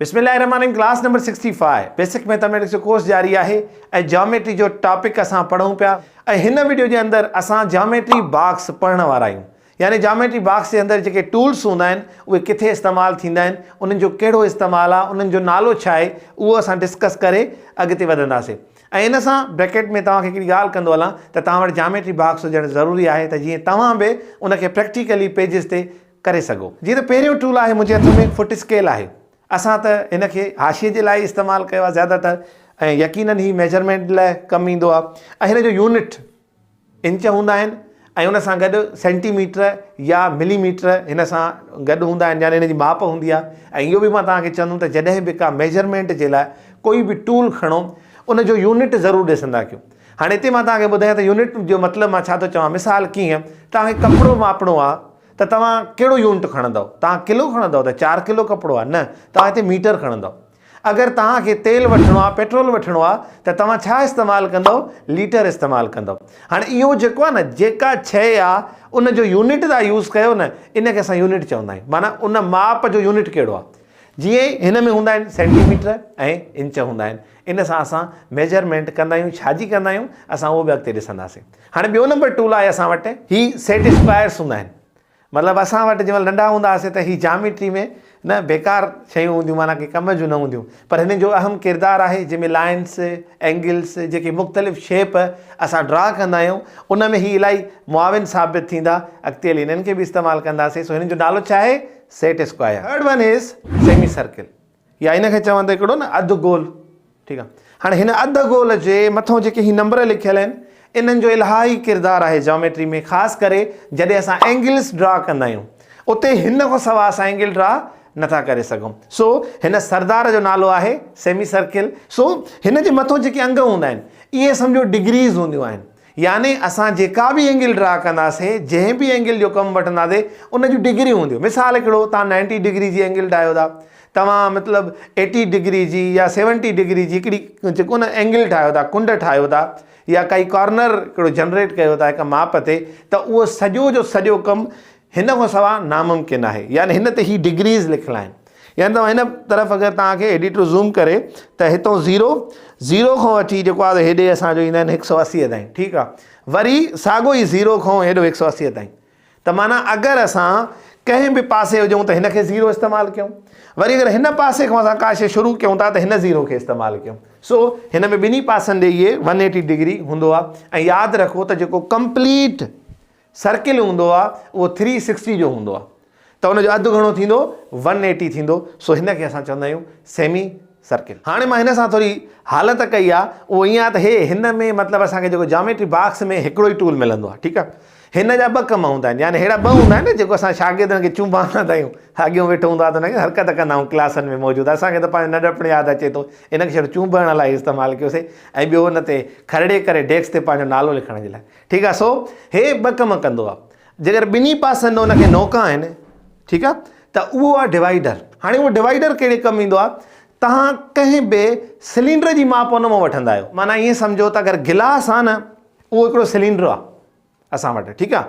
بسم الله الرحمٰن الرحيم class number sixty five basic mathematics جو ڪورس جاري آهي ۽ جاميٽري جو ٽاپڪ اسان پڙهون پيا ۽ هن وڊيو جي اندر اسان جاميٽري باڪس پڙهڻ وارا آهيون يعني جاميٽري باڪس جي اندر جيڪي ٽولس هوندا آهن اهي ڪٿي استعمال ٿيندا آهن انهن جو ڪهڙو استعمال آهي انهن جو نالو ڇا آهي اهو اسان ڊسڪس ڪري اڳتي وڌنداسين ۽ ان سان بريڪيٽ ۾ توهان کي هڪڙي ڳالهه ڪندو هلان ته توهان وٽ جاميٽري باڪس هجڻ ضروري آهي ته جيئن توهان به ان کي پريڪٽيڪلي پيجز تي ڪري سگهو. جيئن ته پهريون ٽول آهي منهنجي هٿ ۾ فٽ اسڪيل آهي اسان ته هن کي حاشيي جي لاء ئي استعمال ڪيو آهي زياده تر ۽ يقينن هي ميجرمينٽ لاء ڪم ايندو آهي ۽ هن جو يونٽ انچ هوندا آهن ۽ ان سان گڏ سينٽي ميٽر يا ملي ميٽر هن سان گڏ هوندا آهن يعني هن جي ماپ هوندي آهي ۽ اهو به مان توهان کي چوندم ته جڏهن به ڪا ميجرمينٽ جي لاء ڪوئي به ٽول کڻو ان جو يونٽ ضرور ڏسندا ڪيو هاڻي هتي مان توهان کي ٻڌايان ته يونٽ جو مطلب مان ڇا ٿو چوان مثال ڪيئن توهان کي ڪپڙو ماپڻو آهي ته توهان ڪهڙو يونٽ کڻندؤ؟ توهان ڪلو کڻندؤ ته چار ڪلو ڪپڙو آهي؟ نه، توهان هتي ميٽر کڻندؤ. اگر توهان کي تيل وٺڻو آهي، پيٽرول وٺڻو آهي ته توهان ڇا استعمال ڪندؤ؟ ليٽر استعمال ڪندؤ. هاڻي اهو جيڪو آهي نه، جيڪا شيء آهي ان جو يونٽ توهان يوز ڪيو نه، ان کي اسان يونٽ چوندا آهيون. معنيٰ ان ماپ جو يونٽ ڪهڙو آهي. جيئن هن ۾ هوندا آهن سينٽي ميٽر ۽ انچ هوندا آهن. ان سان اسان ميجرمينٽ ڪندا آهيون. ڇا جي ڪندا آهيون، اسان اهو به اڳتي ڏسنداسين. هاڻي ٻيو نمبر ٽول آهي اسان وٽ هي سيٽ اسڪوائرس هوندا آهن مطلب اسان وٽ جنهن مهل ننڍا هوندا هئاسين ته هي جاميٽري ۾ نه بيڪار شيون هونديون معنيٰ ڪنهن ڪم جون نه هونديون پر هنن جو اهم ڪردار آهي جنهن ۾ لائنس اينگلس جيڪي مختلف شيپ اسان ڊرا ڪندا آهيون ان ۾ هي الائي معاون ثابت ٿيندا اڳتي هلي هنن کي به استعمال ڪنداسين سو هنن جو نالو ڇا آهي set square third one is semi circle يا ان کي چون ته هڪڙو نه اڌ گول ٺيڪ آهي هاڻي هن اڌ گول جي مٿو جيڪي هي نمبر لکيل آهن انهن جو الهائي ڪردار آهي جاميٽري ۾ خاص ڪري جڏهن اسان اينگلس ڊرا ڪندا آهيون اتي هن کان سوا اسان اينگل ڊرا نٿا ڪري سگهون سو هن سردار جو نالو آهي سيمي سرڪل سو هن جي مٿو جيڪي انگ هوندا آهن اهي سمجهو ڊگريز هونديون آهن يعني اسان جيڪا به اينگل ڊرا ڪنداسين، جنهن به اينگل جو ڪم وٺنداسين، ان جون ڊگريون هونديون. مثال هڪڙو، توهان نائنٽي ڊگري جي اينگل ڊاهيو ٿا. توهان مطلب ايٽي ڊگري جي يا سيونٽي ڊگري جي هڪڙي جيڪو نه اينگل ٺاهيو ٿا، ڪنڊ ٺاهيو ٿا يا ڪائي ڪارنر هڪڙو جنريٽ ڪيو ٿا هڪ ماپ تي ته اهو سڄو جو سڄو ڪم هن کان سواء ناممڪن آهي يعني هن تي هي ڊگريز لکيل آهن يعني توهان هن طرف اگر توهان کي ايڊيٽر زوم ڪري ته هتو زيرو زيرو کان وٺي جيڪو آهي هيڏي اسان جو ايندا آهن هڪ سؤ اسي تائين ٺيڪ آهي وري ساڳو ئي زيرو کان هيڏو هڪ سؤ اسي تائين ته معنی اگر اسان ڪنهن به پاسي هجون ته هن کي زيرو استعمال ڪيون وري اگر هن پاسي کان اسان ڪا شي شروع ڪيون ٿا ته هن زيرو کي استعمال ڪيون سو هن ۾ ٻنهي پاسن ڏي اهي ون ايٽي ڊگري هوندو آهي ۽ ياد رکو ته جيڪو ڪمپليٽ سرڪل هوندو آ اهو ٿري سڪسٽي جو هوندو آ ته ان جو اڌ گهڻو ٿيندو ون ايٽي ٿيندو سو هن کي اسان چوندا آهيون سيمي سرڪل. هاڻي مان هن سان ٿوري حالت ڪئي آ اهو ائين آ ته هي هن ۾ مطلب اسان کي جيڪو جاميٽري باڪس ۾ هڪڙو ئي ٽول ملندو آ ٺيڪ آ هن جا ٻه ڪم هوندا آهن يعني ههڙا ٻه هوندا آهن نه جيڪو اسان شاگردن کي چونباندا آهيون اڳيون ويٺو هوندو آ ته ان کي حرڪت ڪندا آهيون ڪلاسن ۾ موجود اسان کي ته پنهنجو ننڍپڻ ياد اچي ٿو ان کي شايد چونبڻ لاء استعمال ڪيوسي ۽ ٻيو ان تي کرڙي ڪري ڊيڪس تي پنهنجو نالو لکڻ جي لاء ٺيڪ آ سو هي ٻه ڪم ڪندو آ جيڪر ٻنهي پاسن هن کي نوڪا آهن ٺيڪ آ ته اهو آ ڊوائيڊر هاڻي اهو ڊوائيڊر ڪهڙي ڪم ايندو آ توهان ڪنهن به سلينڊر جي ماپ ان مان وٺندا آهيو معنيٰ ائين سمجهو ته اگر گلاس آ نه اهو هڪڙو سلينڊر آ اسان وٽ ٺيڪ آ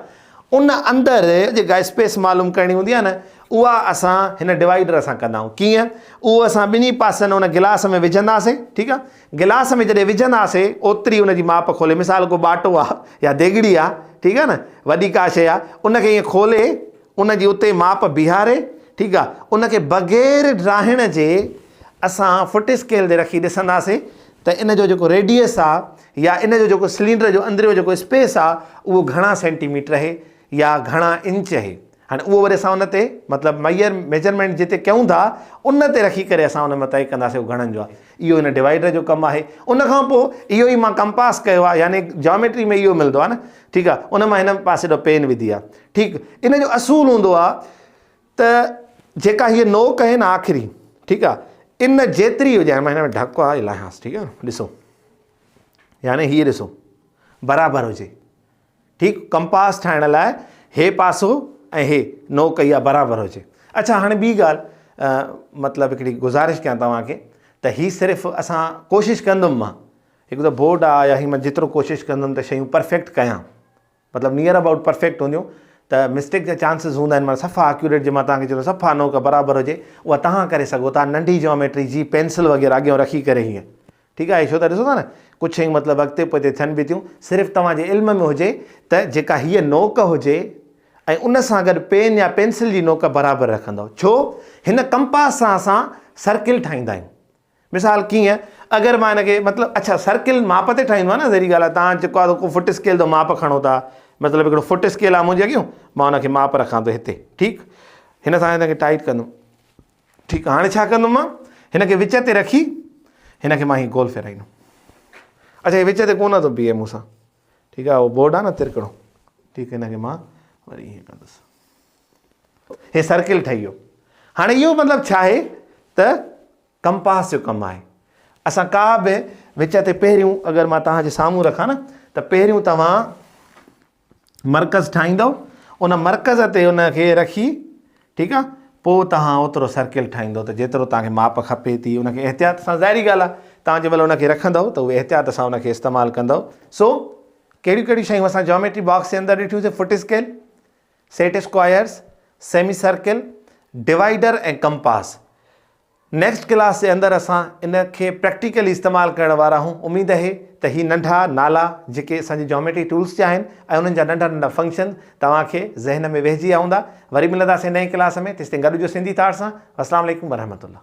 ان اندر جيڪا اسپيس معلوم ڪرڻي هوندي آ نه اها اسان هن ڊوائيڊر سان ڪندا آهيون ڪيئن اهو اسان ٻنهي پاسن ان گلاس ۾ وجهنداسين ٺيڪ آ گلاس ۾ جڏهن وجهنداسي اوتري ان جي ماپ کولي مثال ڪو ٻاٽو آ يا ديڳڙي آ ٺيڪ آ نه وڏي ڪا شي آ ان کي ائين کولي ان جي اتي ماپ بيهاري ٺيڪ آ ان کي بغير ڊاهڻ جي اسان فٽ اسڪيل تي رکي ڏسنداسي ته ان جو جيڪو ريڊيس آ يا ان جو جيڪو سلينڊر جو اندريون جيڪو اسپيس آ اهو گهڻا سينٽي ميٽر اهي يا گهڻا انچ اهي هاڻي اهو وري اسان ان تي مطلب ميئر ميجرمينٽ جتي ڪيون ٿا ان تي رکي ڪري اسان ان مان طئي ڪنداسي اهو گهڻن جو آهي اهو ان ڊوائيڊر جو ڪم آهي ان کان پوء اهو ئي مان ڪمپاس ڪيو آهي يعني جاميٽري ۾ اهو ملندو آهي نه ٺيڪ آهي ان مان هن پاسي ڏو پين وڌي آهي ٺيڪ ان جو اصول هوندو آهي ته جيڪا هي نوڪ آهي نه آخري ٺيڪ آهي ان جيتري هجي هاڻي مان هن ۾ ڍڪ آهي لاهيانس ٺيڪ آهي ڏسو يعني هي ڏسو برابر هجي ٺيڪ ڪمپاس ٺاهڻ لاء هي پاسو ۽ هي نو ڪئي آ برابر هجي اڇا هاڻي ٻي ڳالهه مطلب هڪڙي گذارش ڪيان توهان کي ته هي صرف اسان ڪوشش ڪندم مان هڪ ته بورڊ آ يا هي مان جيترو ڪوشش ڪندم ته شيون پرفيڪٽ ڪيان مطلب نيئر اباؤٽ پرفيڪٽ هونديون ته مسٽيڪ جا چانسز هوندا آهن مطلب صفا اڪيوريٽ جي مان توهان کي چوندو صفا نو ڪا برابر هجي اها توهان ڪري سگهو ٿا ننڍي جيوميٽري جي پينسل وغيره اڳيان رکي ڪري هيئن ٺيڪ آهي ڇو ته ڏسو ٿا نه ڪجهه شيون مطلب اڳتي پوئتي ٿين به ٿيون صرف توهان جي علم ۾ هجي ته جيڪا هيء نوڪ هجي ۽ ان سان گڏ پين يا پينسل جي نوڪ برابر رکندؤ ڇو هن ڪمپاس سان اسان سرڪل ٺاهيندا آهيون مثال ڪيئن اگر مان هن کي مطلب اڇا سرڪل ماپ تي ٺاهيندو آهي نه ذري ڳالهه توهان جيڪو آهي ڪو فٽ اسڪيل تي ماپ کڻو ٿا مطلب هڪڙو فٽ اسڪيل آهي منهنجي اڳيون مان هن کي ماپ رکان ٿو هتي ٺيڪ هن سان هن کي ٽائيٽ ڪندم ٺيڪ آ، هاڻي ڇا ڪندم مان؟ هن کي وچ تي رکي هن کي مان هي گول ڦيرائيندم. اڇا هي وچ تي ڪونه ٿو بيهي مون سان. ٺيڪ آ، اهو بورڊ آ نه ترڪڙو. ٺيڪ هن کي مان وري ائين ڪندس. هي سرڪل ٺهي ويو. هاڻي اهو مطلب ڇا آهي ته ڪمپاس جو ڪم آهي. اسان ڪا به وچ تي پهريون اگر مان توهان جي سامهون رکان نه ته پهريون توهان مرڪز ٺاهيندؤ ان مرڪز تي ان کي رکي ٺيڪ آ پو توهان اوترو سرڪل ٺاهيندؤ ته جيترو توهان کي ماپ کپي ٿي ان کي احتياط سان ظاهري ڳالهه آ توهان جي مهل ان کي رکندؤ ته اهي احتياط سان ان کي استعمال ڪندؤ سو ڪهڙيون ڪهڙيون شيون اسان جاميٽري باڪس جي اندر ڏٺيون سي foot scale set squares semi circle divider ۽ compass next class جي اندر اسان ان کي پريڪٽيڪلي استعمال ڪرڻ وارا آهون اميد اهي ته هي ننڍا نالا جيڪي اسان جي جاميٽري ٽولس جا آهن ۽ انهن جا ننڍا ننڍا فنڪشن توهان کي ذهن ۾ ويهجي ويا هوندا وري ملنداسين نئين ڪلاس ۾ تيستائين گڏ هجو سنڌي ٿاٽ سان اسلام عليڪم ورحمة الله.